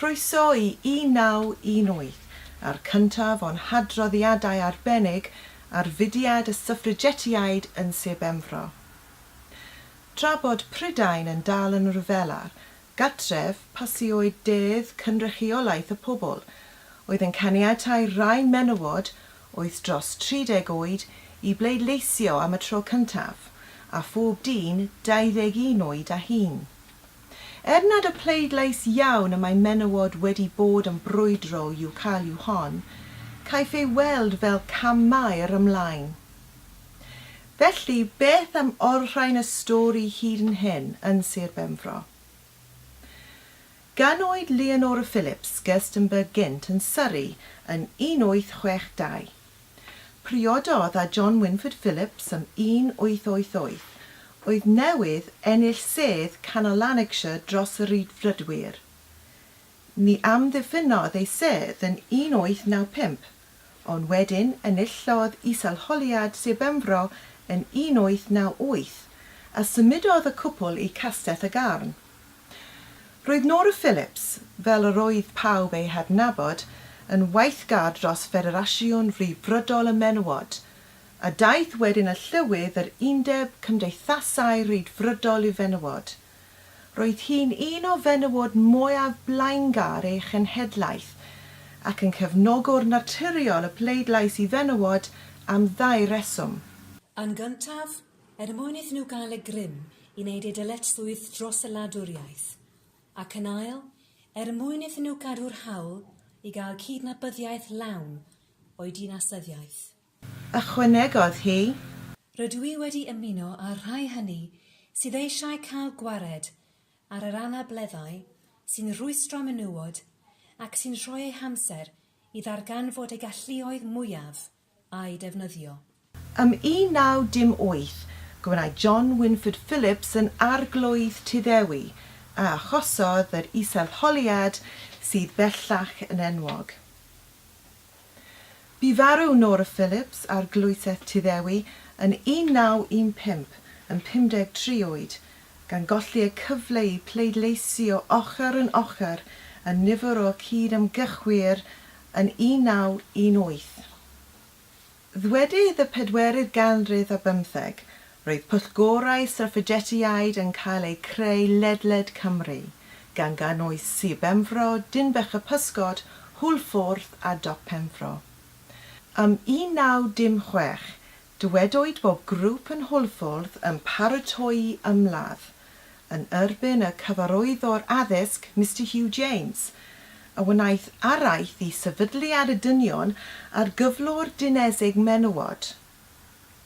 Croeso i 1918 a'r cyntaf o'n hadroddiadau arbennig ar fudiad y Syffrigetiaid yn Sir Benfro. Tra bod Prydain yn dal yn ryfelar gartref pasiwyd Dedd Cynrychiolaeth y Pobl, oedd yn caniatáu rhai menywod oedd dros 30 oed i bleidleisio am y tro cyntaf, a phob dyn 21 oed a hŷn. Er nad y pleidlais iawn y mae menywod wedi bod yn brwydro i'w cael yw hon, caiff ei weld fel cam maer ymlaen. Felly, beth am olrhain y stori hyd yn hyn yn Sir Benfro? Ganwyd Leonora Phillips Gerstenberg gynt yn Surrey yn 1862. Priododd â John Winford Phillips yn 1888, oedd newydd ennill sedd canol Lanarkshire dros y Rhyddfrydwyr. Ni amddiffynnodd ei sedd yn 1895, ond wedyn enillodd is-arholiad Sir Benfro yn 1898, a symudodd y cwpl i Castell y Garn. Roedd Nora Phillips, fel yr oedd pawb ei hadnabod, yn weithgar dros Ffederasiwn Frifbrydol y Menywod, a daeth wedyn â llywydd yr Undeb Cymdeithasau Rhyddfrydol i Fenywod. Roedd hi'n un o fenywod mwyaf blaengar ei chenhedlaeth, ac yn cefnogwr naturiol y pleidlais i fenywod am ddau reswm. Yn gyntaf, Er mwyn iddyn nhw gael y grym i wneud eu dyletswydd dros y wladwriaeth, ac yn ail, er mwyn iddyn nhw gadw'r hawl i gael cydnabyddiaeth lawn o'u dinasyddiaeth. Ychwanegodd hi. Rydw i wedi ymuno â'r rhai hynny sydd eisiau cael gwared ar yr anableddau sy'n rhwystro menywod ac sy'n rhoi eu hamser i ddarganfod eu galluoedd mwyaf a'i defnyddio. Ym 1918, gwnaed John Wynford Phillips yn Arglwydd Tyddewi, a achosodd yr isel-holiad sydd bellach yn enwog. Bu farw Nora Phillips, Arglwysedd Tyddewi, yn 1915, yn 53 oed, gan golli y cyfle i pleidleisio ochr yn ochr â nifer o cyd-ymgyrchwyr yn 1918. Ddwedydd y pedwerydd ganrif ar bymtheg, roedd pwyllgorau Syrffejetiaid yn cael eu creu ledled Cymru, gan gynnwys Sir Benfro, Dinbych-y-pysgod, Hwlffordd a Dop Penfro. Ym 1916, Dywedwyd bod grŵp yn Hwlffordd yn paratoi ymladd yn erbyn y Cyfarwyddwr Addysg, Mister Hugh James, a wnaeth araith i sefydliad y dynion a'r gyflwr dinesig menywod.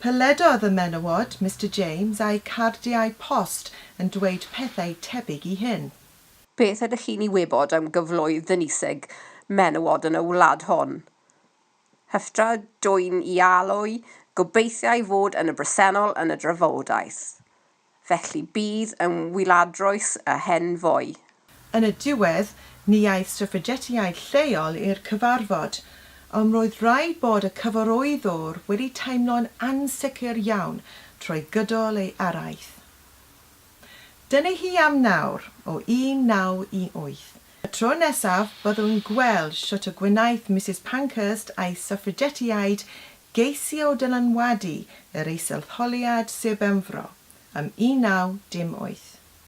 Peledodd y menywod, Mister James, a'u cardiau post yn dweud pethau tebyg i hyn. Beth ydych chi'n ei wybod am gyfloedd dinesig menywod yn y wlad hon? Haftra dwyn ialwy gobeithiai fod yn y bresennol yn y drafodaeth. Felly bydd yn wyladroes y hen foi. Yn y diwedd, ni aeth Suffragetiaid lleol i'r cyfarfod, ond roedd rhaid bod y cyfarwyddwr wedi teimlo'n ansicr iawn trwy gydol ei araith. Dyna hi am nawr, o 1918. Y tro nesaf, byddwn gweld shwt y gwnaeth Misus Pankhurst a'i Suffragetiaid geisio dylanwadu yr Eisteddholiad Sir Benfro, ym 1918.